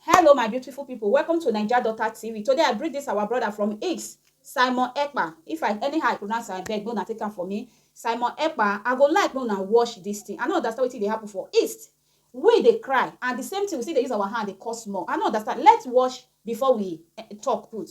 Hello my beautiful people welcome to Naija Daughter TV today I bring this our brother from Ix Simon Ekpa if I anyhow I pronounce am abeg no na take am for me Simon Ekpa I go like no na watch this thing I no understand wetin dey happen for East we dey cry and the same thing we still dey use our hand dey cause more I no understand let's watch before we talk put.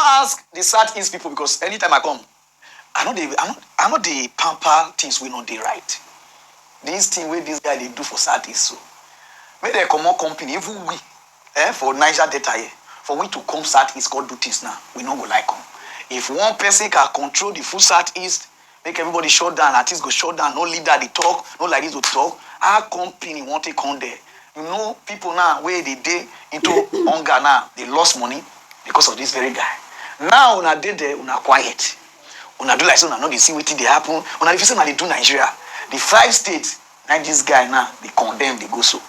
ask the south east people because anytime i come i no dey i no i no dey pamper things wey no dey right this thing wey this guy dey do for south east so make dem comot company even we eh, for niger delta here for we to come south east come do things now we no go like am if one person can control the full south east Make everybody shut down, artist go shut down, no leader dey talk, no like this to talk, how company wan take come there? You know people now wey dey dey into hunger now dey lost money because of this very guy. Now una dey there, una quiet, una do like say una no dey see wetin dey happen, una dey feel say una dey do Nigeria, the five states. Naim dis guy now dey condemn dey go so.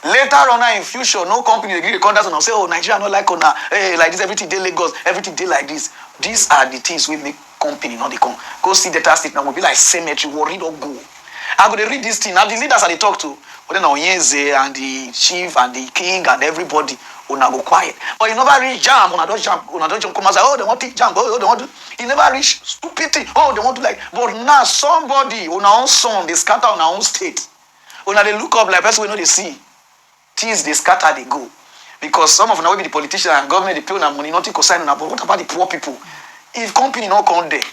Later on now in future no company dey gree dey contact una say oh Nigeria no like una eh like dis everything dey Lagos everything dey like dis. Dis are the things wey make company no dey come. Go see Delta state now go be like cemetery warri don go. I go dey read dis thing na the leaders I dey talk to whether na Onyeze and the chief and the king and everybody una go quiet but e never reach jamb una don jamb una don jump come outside oh dey wan pick jamb oh dey wan do. e never reach stupid thing oh dem wan do like but na somebody una own son dey scatter una own state una dey look up like person wey no dey see things dey scatter dey go because some of una wey be the politician and government dey pay una money nothing concern una but what about the poor people if company no come there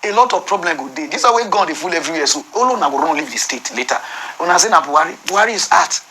a lot of problem go dey this one wey gun dey full everywhere so all una go run leave the state later una say na buhari buhari is art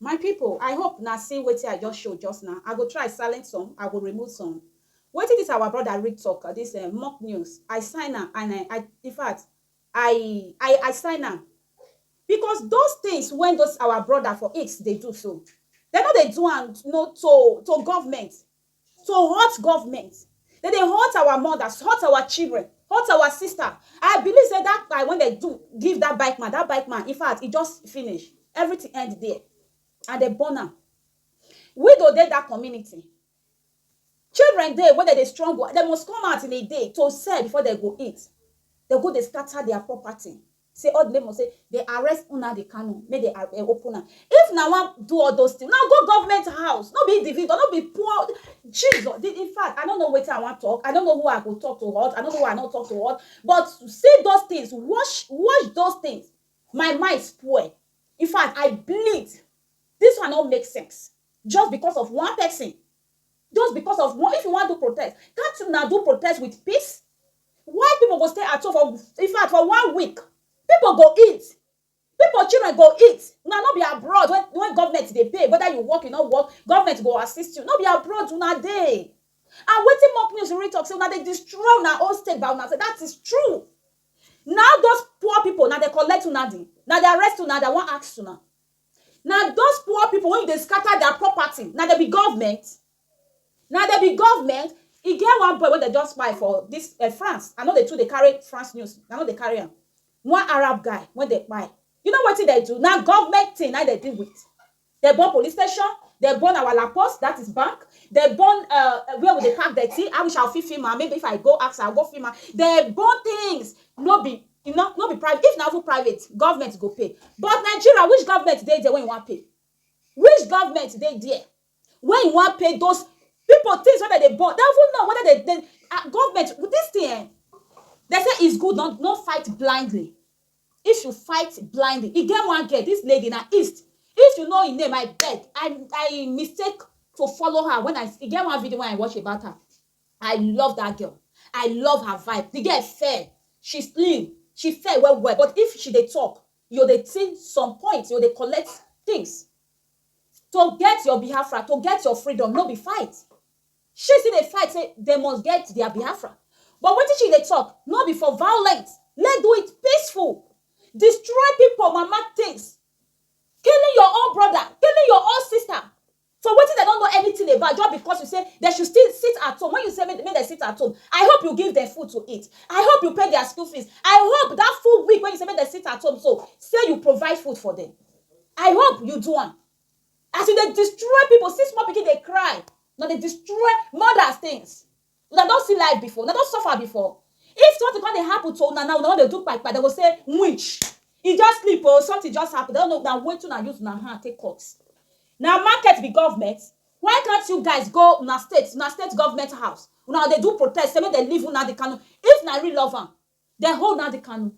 My people I hope na see wetin I just show just now I go try silent some I go remove some wetin this our brother Rick talk this um mock news I sign am and um I infact I I I sign am because those things when those our brother for X dey do so dem no dey do am no to to government to hurt government dem dey hurt our mothers hurt our children hurt our sister i believe say that guy when they do give that bike man that bike man in fact e just finish everything end there and dem born am widow dey that community children dey wey dem dey struggle dem must come out in a day to sell before dem go eat dem go dey scatter their property Say all the neighbour say dey arrest Nnamdi Kanu make dey ar eh open am if na wan do all those thing una go government house no be individual no be poor Jesus the infact I no know wetin I wan talk I no know who I go talk to hurt I no know who I no talk to hurt but see those things watch watch those things my mind spoil infact I bleed this one no make sense just because of one person Just because of one, if you wan do protest, can't una do protest with peace? Why people go stay at home for, in fact, for one week? People go eat. People children go eat. Una no be abroad when, when government dey pay, whether you work, you no work, government go assist you. No be abroad una dey. And wetin mock news really talk say una dey destroy una own state by una say that is true. Now those poor people, now they collect una di, now they arrest una, they wan ask una. Na those poor people wey you dey scatter their property, na dem be government? Na dem be government? E get one boy wey dem just kpai for this eh France, I no dey too dey carry France news, I no dey carry am. One Arab guy wey dem kpai, you know wetin dem do? Na government thing na im dem deal with. Dem burn police station, dem burn our La Poste, that is bank, dem burn eh where we dey pack dirty, I wish I fit film am, maybe if I go ask am, I go go film am, dem burn things, no be E no no be private if na even private government go pay but Nigeria which government dey there wey you wan pay which government dey there wey you wan pay those people things wey dem dey burn dem even know whether dem dem ah government this thing eh dem say is good not no fight blindly if you fight blindly e get one girl this lady na east if you know im name I beg I I mistake to follow her when I e get one video wey I watch about her I love that girl, I love her vibe, the girl fair, she slim, she fair well well but if she dey talk yo dey think some points yo dey collect things to get your Biafra, to get your freedom no be fight, she still dey fight say dem must get their Biafra but wetin she dey talk no be for violence, let's do it peaceful, destroy people mama things, killing your own brother, killing your own sister. For wetin dem no know anything about just because you say dem should still sit at home when you say make dem sit at home I hope you give dem food to eat I hope you pay their school fees I hope that full week wey you say make dem sit at home so say you provide food for dem I hope you do am as you dey destroy people see small pikin dey cry una dey destroy mothers things. Una don see life before? Una don suffer before? If something come dey happen to una now, una wan dey do kpai kpai, dem go say winch, e just sleep o, something just happen, dem no know na wetin una use una hand take cut. Na market be government? Why can't you guys go una state, una state government house, una go dey do protest say make dem leave Nnamdi Kanu, if una really love am, Dem hold Nnamdi Kanu,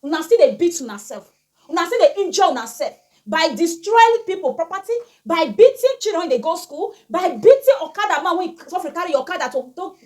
una still dey beat una self, una still dey injure una self by destroying people property, by beating children wey dey go school, by beating okada man wey e suffer carry e okada to to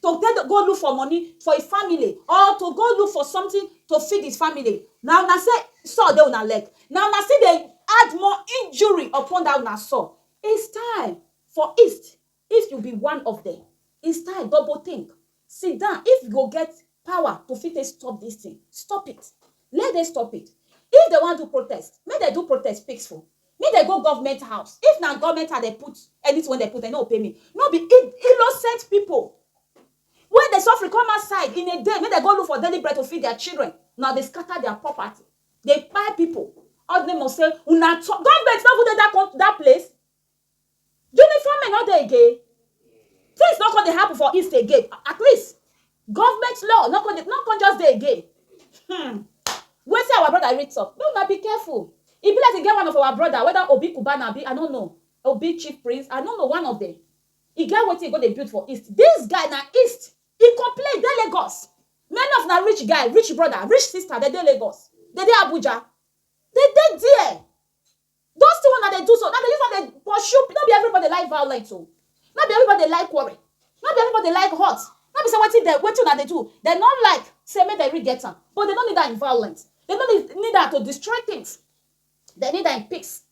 to take go look for money for e family or to go look for something to feed his family. Na una say saw dey una leg, na una still dey add more injury upon dat una saw. It's time for east If you be one of dem instead double think sit down if you go get power to fit take stop this thing stop it let dem stop it if dem wan do protest make dem do protest peaceful make dem go government house if na government house dem put anything wey dem put dem no go pay me no be innocent people wey dey suffering come outside in a day make dem go look for daily bread to feed their children una dey scatter their property dey kpai people all the name of say una government no even dey that that place Uniform men no dey again. Things no come dey happen for East again. At least, government law no come dey, no come just dey again. Hmm. Wetin our brother read talk, make una be careful. E be like e get one of our brother, whether Obi Cubana abi I no know, Obi Chief Prince, I no know, one of dem. E get wetin e go dey build for East. This guy na East e complain, e dey Lagos. Many of una rich guy, rich brother, rich sister, dem dey Lagos. Dem dey Abuja. Dem dey there. Those thing wey una dey do so, una dey use am dey pursue, no be everybody dey like violent o, no be everybody dey like quarrel, no be everybody dey like hurt, no be say wetin dem, wetin una dey do, dem no like say make dem really get am, but dem no need am in violent, dem no need need am to destroy things, dem need am in peace.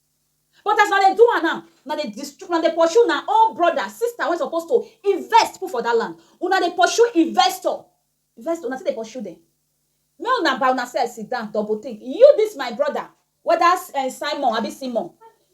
But as una dey do am now, una dey destroy, una dey pursue una own brother, sister wey suppose to invest put for dat land, una dey pursue investor, investor, una still dey pursue dem, make una by una self sit down double think, you dis my brother, weda Simon abi Simon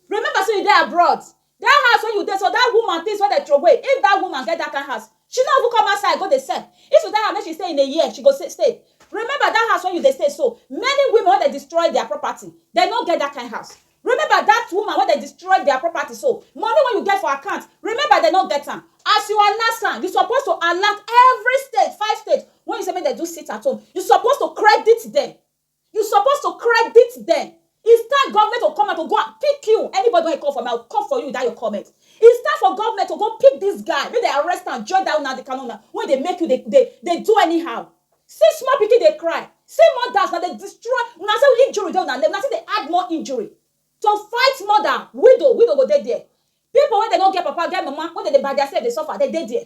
remember say you dey abroad dat house wey you dey so dat woman things wey dem throway if dat woman get dat kind house she no even come outside go dey sell if you tell her make she stay in a year she go stay remember dat house wey you dey stay so many women wey dem destroy dia property dem no get dat kind house remember dat woman wey dem destroy dia property so money wey you get for account remember dem no get am as you announce am you suppose to alert every state five state wey you say make dem do sit at home you suppose to credit dem You suppose to credit dem It's time government to come out to go and pick you. Anybody wey come for me, I will come for you with that your comment. It's time for government to go pick this guy. Make they arrest and join that Nnamdi Kanu now. When they make you, they, they, they do anyhow. See small pikin they cry. See mothers now they destroy. Una say injury dey una leg. Una say they add more injury to fight mother, widow, widow go dey there. People when they don't get papa, get mama, when they, they by themselves they suffer, they dey there.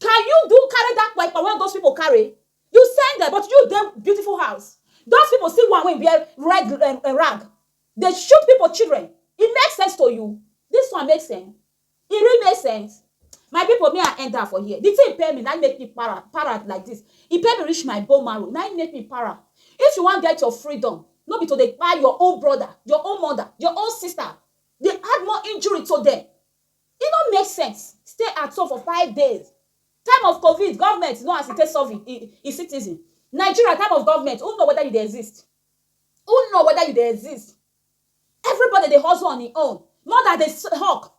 Can you do carry that kpaikpa wey those people carry? You send them but you dey beautiful house. Those people see one wey wear red um, um, rag dey shoot people children. E make sense to you? This one make sense? E really make sense? my people me i end up for here the thing pay me now make me para para like this e pay me reach my bone marrow now make me para if you wan get your freedom no be to dey kpai your own brother your own mother your own sister dey add more injury to them E no make sense stay at home for five days time of covid government no as e take solve e e citizen Nigeria time of government who know whether you dey exist who know whether you dey exist everybody dey hustle on e own mother dey hawk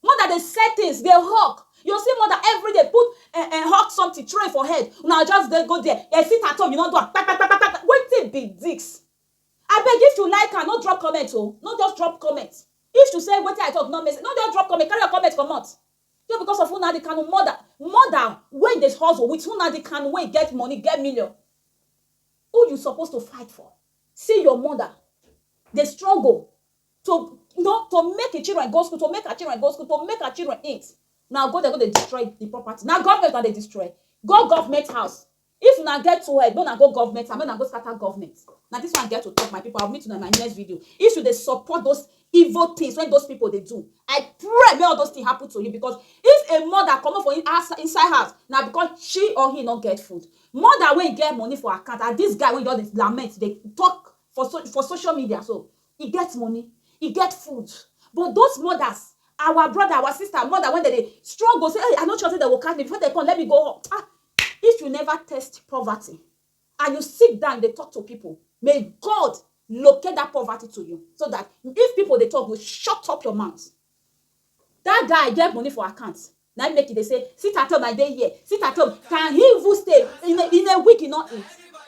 mother dey sell things dey hawk you see mother everyday put eh, eh, hawk something throw it for head una just dey go there dey sit at home you no do am kpakpakpakpa wetin be this Abeg if u like am no drop comment o no just drop comment if u say wetin i talk no make sense no just drop comment carry ur comment comot just because of Nnadi Kanu mother mother wey dey hustle with Nnadi Kanu wey get money get million who u suppose to fight for see ur mother dey struggle to no to make e children go school to make her children go school to make her children eat na go dey go dey destroy the property na government una dey destroy go government house If una get two head, make una go government and make una go scatter government. Na this one I get to talk, my people. I'll meet una in my next video. If you dey support those evil things when those people dey do, I pray make all those things happen to you because if a mother comot for inside house, na because she or he no get food. Mother wey get money for account and this guy wey just dey lament, dey talk for so for social media so, e get money, e get food. But those mothers, our brother, our sister, mother when dem dey struggle, say, hey, I no sure say dem go catch me. Before dem come, let me go. Ah, If you never test poverty and you sit down dey talk to people, may God locate that poverty to you so that if people dey talk, you shut up your mouth. That guy get money for account na im make e dey say sit at home I dey here, sit at home can he even stay in a in a week he no eat.